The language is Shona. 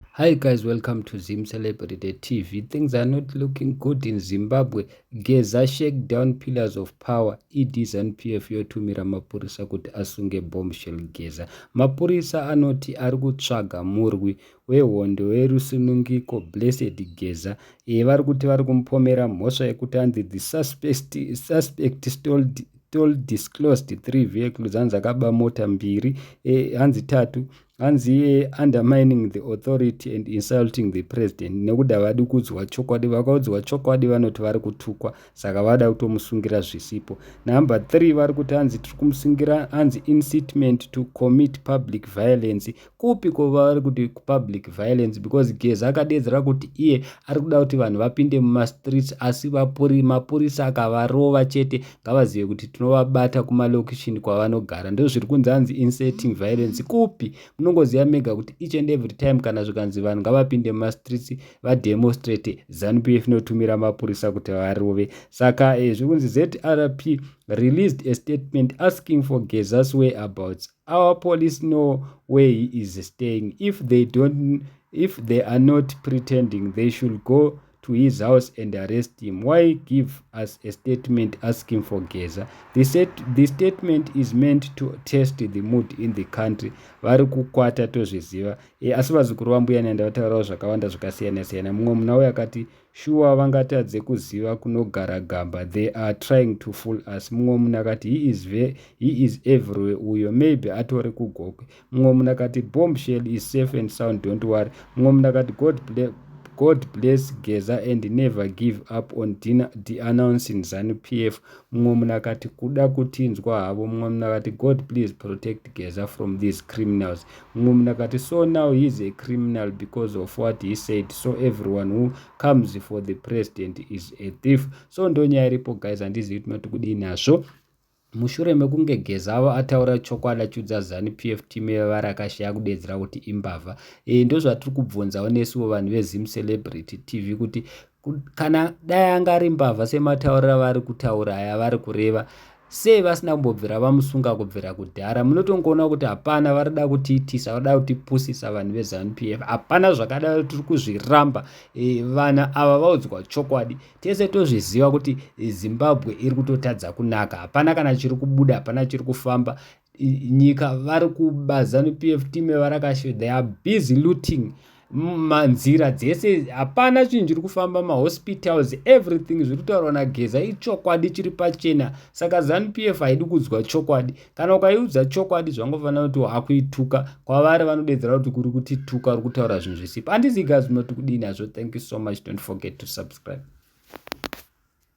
Hi guys, welcome to Zim Celebrity TV. Things are not looking good in Zimbabwe. Geza shake down pillars of power. ED ZANPF yotumira mapurisa kuti asunge bombshell Geza. Mapurisa anoti ari kutsvaga murwi wehondo werusunungiko Blessed Geza. Iye vari kuti vari kumupomera mhosva yekuti anzi the suspect, suspect stole told disclosed three vehicles hanzi akaba mota mbiri eh, hanzi tatu hanzi iye undermining the authority and insulting the president nekuda vadi kuudzwa chokwadi vakaudzwa chokwadi vanoti vari kutukwa saka vada kutomusungira zvisipo number three vari kuti hanzi tiri kumusungira hanzi incitement to commit public violence kupi kova vari kuti public violence because geza akadeedzera kuti iye ari kuda kuti vanhu vapinde mumastreets asi mapurisa akavarova chete ngavazive kuti tinovabata kumalocation kwavanogara ndozviri kunzi anzi inserting violence kupi munongoziva mega kuti each and every time kana zvikanzi vanhu ngavapinde mumastreets vademonstrate zanupf inotumira mapurisa kuti varove saka eh, zviri kunzi zrp released a statement asking for gezas whereabouts our police know where he is staying if they don't if they are not pretending they should go to his house and arrest him why give us a statement asking for geza the, set, the statement is meant to test the mood in the country vari kukwata tozviziva e, asi vazukuru vambuya nenda vataurawo zvakawanda zvakasiyana-siyana mumwe muna uyo akati Shuwa vangatadze kuziva kunogara gamba they are trying to fool us. Mumwe munhu akati he is, ve, he is everywhere uyo maybe atori kugokwe. Mumwe munhu akati bomb shell is safe and sound don't worry. Mumwe munhu akati God, ble, God bless Geza and never give up on deannouncing Zanu PF. Mumwe munhu akati kuda kutinzwa havo. Mumwe munhu akati God please protect Geza from these criminals. Mumwe munhu akati, So now he is a criminal because of what he said, so everyone who comes for the president is a thief. So ndonyaya iripo guys, handizivi kuti mati kudii nazvo. mushure mekunge gezavo ataura chokwadi achiudza zanu pf team yevari akashaya kudedzera kuti imbavha e, ndozvatiri kubvunzawo nesiwo vanhu vezimu celebrity tv kuti kana dai anga ari mbavha sematauriro avari kutaura aya vari kureva sei vasina kumbobvira vamusunga kubvira kudhara munotongoona kuti hapana varida kutiitisa varida kutipusisa vanhu vezanup f hapana zvakadaro tiri kuzviramba e, vana ava vaudzwa chokwadi tese tozviziva kuti zimbabwe iri kutotadza kunaka hapana kana chiri kubuda hapana chiri kufamba nyika vari kuba zanu pf team yevarakashe they are busy looting manzira dzese hapana chinhu chiri kufamba mahospitals everything zviri kutaurwa nageza ichokwadi chiri pachena saka zanup f haidi kudzwa chokwadi kana ukaiudza chokwadi zvangofanira kuti wakuituka kwavari vanodedzera kuti kuri kuti tuka uri kutaura zvinhu zvisipo handizigazvino tikudii nazvo thank you so much don't forget to subscribe